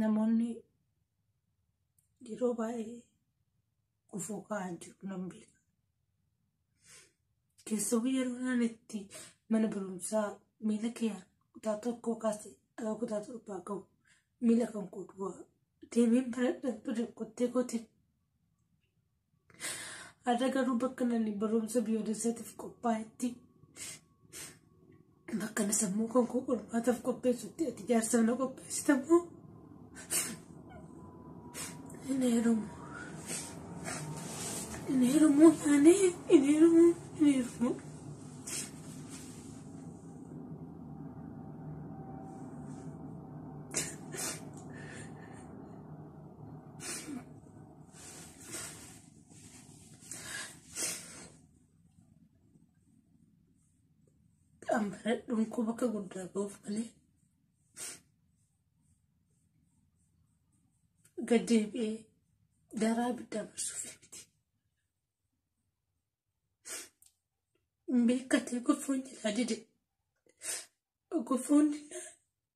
namoonni yeroo baay'ee gufuu kaa'an jiru nan beeka. Keessumaa yeroo naan itti mana barumsaa miila kiyaan kutaa tokkoo kaasee aga kutaa torbaa gahu miila kan koo duwwaa deemeen baradhan bada kottee kootiin Har'a garuu bakka nani barumsa biyyoolessaatiif qophaa'etti bakka na sammuu kan koo qormaataaf qopheessutti ati jaarsaa na qopheessitamoo hin heerumu. Hin heerumu taanee hin heerumu hin heerumu. Ambaradhuun koo bakka guddaa ga'uuf malee gad deebi'ee daraa abiddaa marsuuf miti. Beekkatee gofoon jilaa dide. Gofoon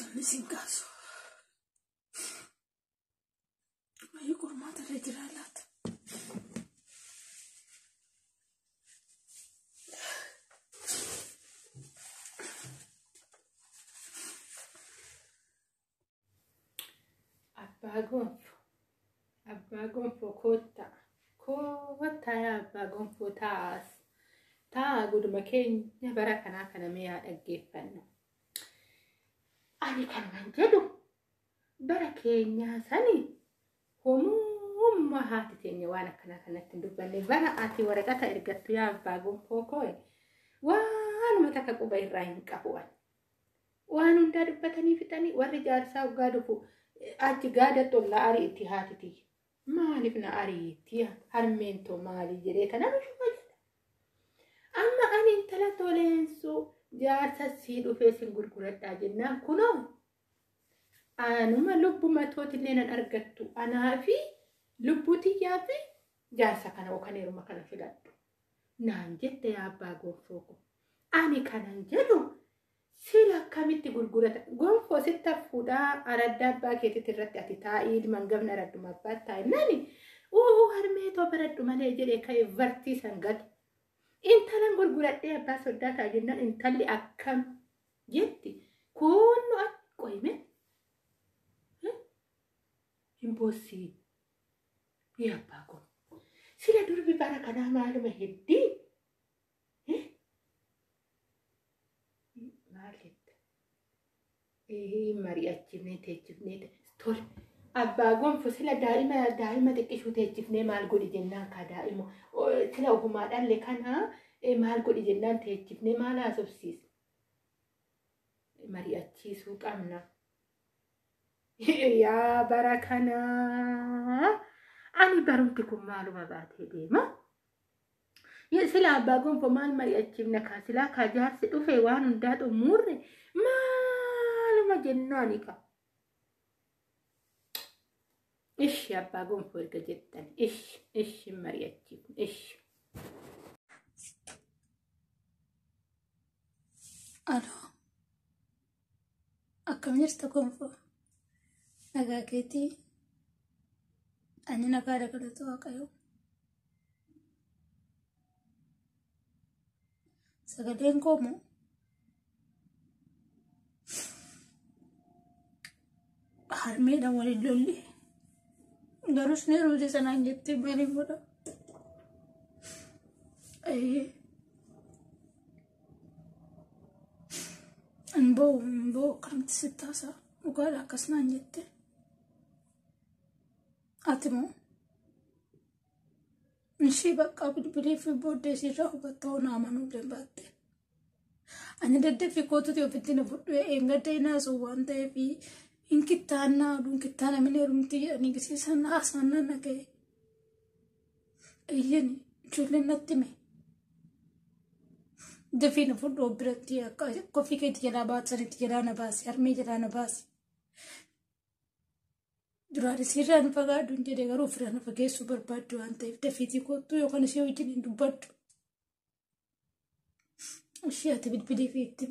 Namni siin kaasu. Maayii qormaata irra jiraa laata? Abbaa gonfo. Abbaa gonfo koottaa. Koottaa yaa abbaa gonfo taa'aas. Taa'aa guduma keenya bara kanaa kana mee yaa dhaggeeffannu. Ani kanuman jedhu bara keenyaa sani homummaa haati teenya waan akkanaa kanatti hin dubbanne bara ati waraqata ergattu yaa abbaa gonfoo koo waanuma takka quba irraa hin qabu ani. Waan hundaa dubbatanii fixanii warri jaarsaa oggaa dhufu achi gaada tollaa arii itti haati tiyya. Maaliif na ariitti harmeen too maalii jedhee kana bishuma jedha. Amma ani intala toleensuu jaarsa sii dhufee sin gurguradhaa jennaan kunoo anuma lubbuma tootillee nan argattu anaa fi lubbuu tiyyaa fi jaarsa kana yookaan heeruma kana filadhu. naan jette yaa abbaa gonfoo ko. Ani kanan jedhu sila akkamitti gurgurata gonfoo sitti affuudhaa aradda abbaa keetitti irratti ati taa'ii ilman gafna aradduma abbaatti taa'e nani uuu harmee too baradhu malee jedhe ka'e vartii san gate. Intalan gurguradhee abbaa soddaa ta'a jennaan intalli akkam jetti kuunnu qoyime hin boossii. Yaa abbaa koo. Sila durbi bara kanaa maaluma heddii? Eh? Maal jetta? Eh, mari'achifnee teechifnee te- tole. Abbaa gonfo sila daa'ima daa'ima xiqqishuu teechifnee maal godhi jennaan kaa daa'ima O, sila ofumaa dhalle kanaa eh, maal godhi jennaan teechifnee maal haasofsiisa? Mari'achiisuu qabna. Yaa bara kana ani barumti kun maaluma baatee deema. Sila abbaa gonfoo maal mari'achiifna kaa silaa kaa jaarsi dhufe waan hundaa xumurre maaluma jennaani kaa. Ishi abbaa gonfoo erga jettan ishi ishi mari'achiifna ishi. Aloo. Akkam jirta gonfoo? Nagaa keetii? Ani nagaa dabalatu waaqayyo. Sagaleen koo moo? harmeedhaan waliin lolli garus ni ruute sanaan jettee maaliin godha hin ba'u hin ba'u akkamitti sitti haasaa dhugaadha akkas naan jette ati moo ishii baqqaa bilbilee fi booddee siirraa hubattoo naamanuu danda'atte. Ani daddaffi kootuti ofitti na fudhu eeggadda hin haasa'u waan ta'eef hin kittaannaa oduun kittaana min heerumti jedhanii gisiisan haasa'annaan na ga'e. Eeyyeen ijoolleen natti hime. Dafii na fudhu of biratti akka koffii keetti jalaa baasanitti jalaa na baasi harmee jalaa na baasi. Duraan isiirraa nu fagaadhu hin jedhe garuu ofirraa na fageessuu barbaaddu waan ta'eef dafiitii kottu yookaan ishee wajjin hin dubbadhu. Ishii ati bilbilii fi itti.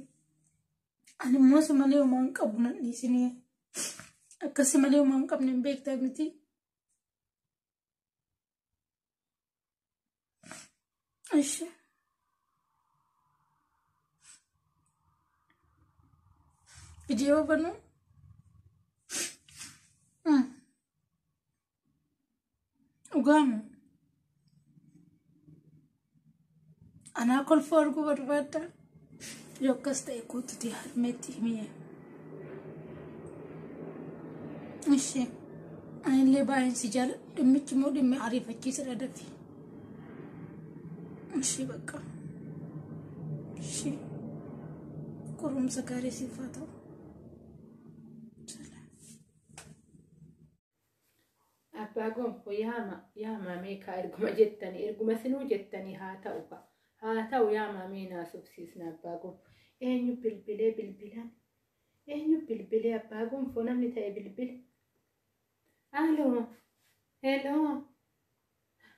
Ani immoo si malee homaa hin qabu nan dhiisinii. Akka si malee homaa hin qabne hin beektaa miti. Ishii. Viidiyoo banuu. Dhugaama. Anaa kolfoo arguu barbaadda. Yoo akkas ta'e kootuti harmeetti himee. Ishi. Anillee baay'een si jaala. Dhimmichi immoo dhimmi ariifachiisadha dafi. Ishi bakka. Ishi. Qorumsa gaarii siif haa ta'u. Abbaa gonfo yaama yaamaa meekaa erguma jettanii erguma sinuu jettanii haa ta'u ka haa ta'u yaamaa mee naa subsiisna abbaa gonfo eenyu bilbilee bilbilan eenyu bilbilee abbaa gonfo namni ta'e bilbile aaloo heloo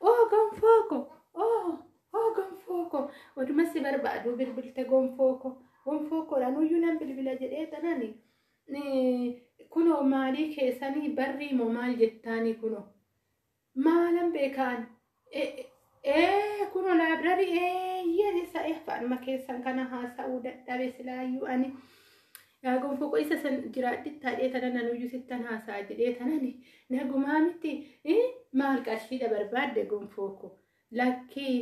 Oh gonfoo ko! Oh! Oh gonfoo ko! Oduma si barbaadu bilbilte gonfoo ko! Gonfoo ko dhanuyyuu nan bilbila jedhee tanani kunoo maalii keessanii barrii moo maal jettaanii kunoo maalan beekaan ee kunoo laabrarii eeyyeen isa eeffaanuma keessan kana haasa'uu dadhabe silaayyuu ani. Yaa gonfoo qoy isa san jiraadhi taadhee tanan anuyyuu sittan haasa'a jedhee tanani nagumaa miti ii maal qarshiidha barbaadde gonfoo koo lakkii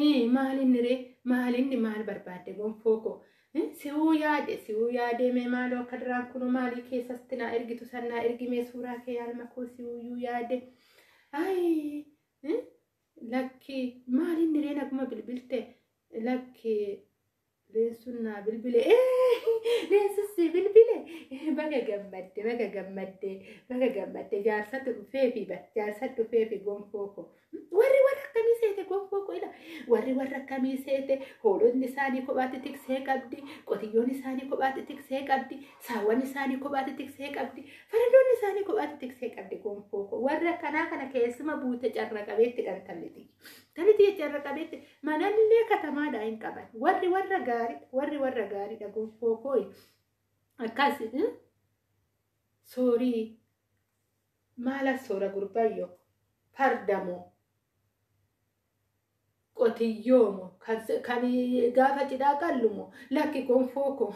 ii maal inni ree maal inni maal barbaadde gonfoo koo ii si'uu yaade si'uu yaadee mee maaloo akka duraan kunoo maalii keessatti naa ergitu san naa ergimee suuraa kee yaalma koo si'uuyyuu yaade ayii ii Lakki maal inni ree naguma bilbilte lakki leensuun naa bilbile leensuun si bilbile baga gammadde baga gammadde baga gammadde jaarsatu dhufee fi bar jaarsa dhufee fi gonfoo koo warri warra akkamii seete gonfoo koo ila warri warra akkamii seete hoolonni isaanii kophaatti tiksee qabdi qotiyyoon isaanii kophaatti tiksee qabdi Saawwan isaanii kophaatti tiksee qabdi. Faradoonni isaanii kophaatti tiksee qabdi gonfoo koo. Warra akkanaa kana keessuma buute carra qabeetti dhan talliti. Talliti carra qabeetti manallee katamaadhaa hin qaban. Warri warra gaariidha. Warri warra gaariidha gonfoo koo. Akkas soorii maala soora gurbayyoo fardamoo. Qotiyyoo mo? Kan gaafa cidhaa qallu mo? Lakki konfoo ko.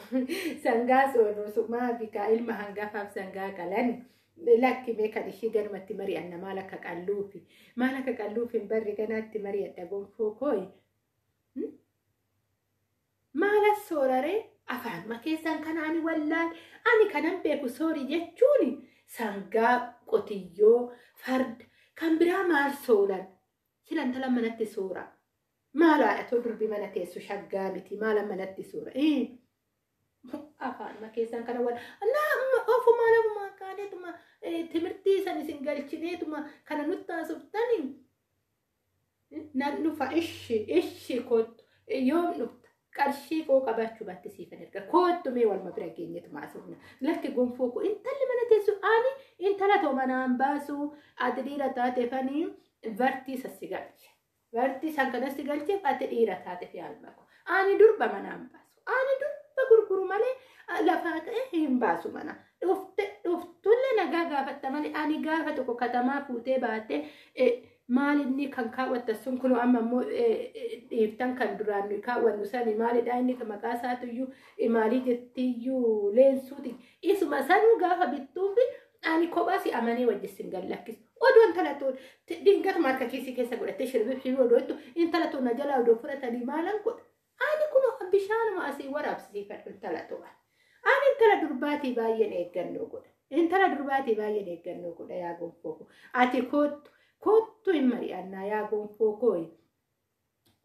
Sangaa soorru sumaafi kaa ilma hangafaaf sangaa qalan. Lakki mee kan ishii ganumatti mari'anna maal akka qalluufi. Maal akka qalluufi hin barre ganaatti mari'adha gonfoo kooyi. Maal as sooraree afaanuma keessan kana ani wallaal ani kanan beeku soorii jechuun sangaa qotiyyoo farda kan biraa maal soolan Sila intala manatti suura. Maal haadhatoo durbi mana teessu shaggaa miti maala manatti suura. Afaanuma keessan kana wal nama ofumaan ofumaan kaaneetuma timirtii san isin galchineetuma kana nutti haasoftan nan dhufa ishi ishi kottu yoom dhufta qarshii koo qabaachuu baatte siifan erga koottu mee walma bira geenyetu maasofna lakki gonfoo koo intalli mana teessu ani intala too manaan baasu ati dhiira taate fanii bartii sassi galche bartii san kanas si galche ati dhiira taate fi alma koo ani durba manaan baasu ani durba gurguru malee lafaa ka'e hin baasu mana dhufte dhuftulle nagaa gaafatta malee ani gaafa tokko katamaa fuutee baate Maal inni kan kaawwattan sun kunoo amma immoo dhiiftan kan duraan nuyi kaawwannu sani maalidha inni kan maqaa isaatuyyuu imaalii jettiyyuu leensuuti. Isuma sanuu gaafa bittuufi ani kophaa si amanee wajjissin gad lakkisu. Odoo intala tuun dingatuma harka kiisii keessa godhattee shirbiif shirbii odoo jettu intala tuun na jalaa odoo fudhatanii maalan godha. Ani kuno bishaanuma asii waraabsisiifadhu intala to'a. Ani intala durbaatii baay'een eeggannoo godha. Intala durbaatii baay'een eeggannoo godha yaa gonfoo koo. Ati koottu koottu hin mari'annaa yaa gonfoo koo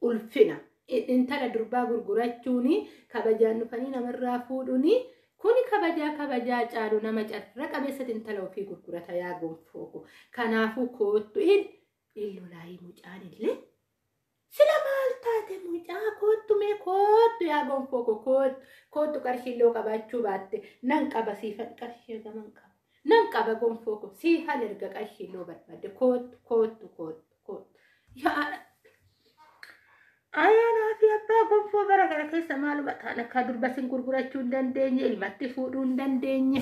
ulfina. Intala durbaa gurgurachuun kabajaan dhufanii namarraa fuudhuun kuni kabajaa kabajaa caalu nama carra qabeessatti intala ofii gurgurata yaa gonfoo koo. Kanaafuu koottu hin illolaayi mucaan illee. Sila maal taate mucaa koottu mee koottu yaa gonfoo koo koottu koottu qarshii illee qabaachuu baatte nan qaba siifan qarshii hagaman qaba nan qaba gonfoo koo siifan erga qarshii illee barbaadde koottu koottu koottu koottu yaa Ayyaanaa fi abbaa gonfoo bara kana keessa maaluma taana akka durba sin gurgurachuu hin dandeenye ilmatti fuudhuu hin dandeenye.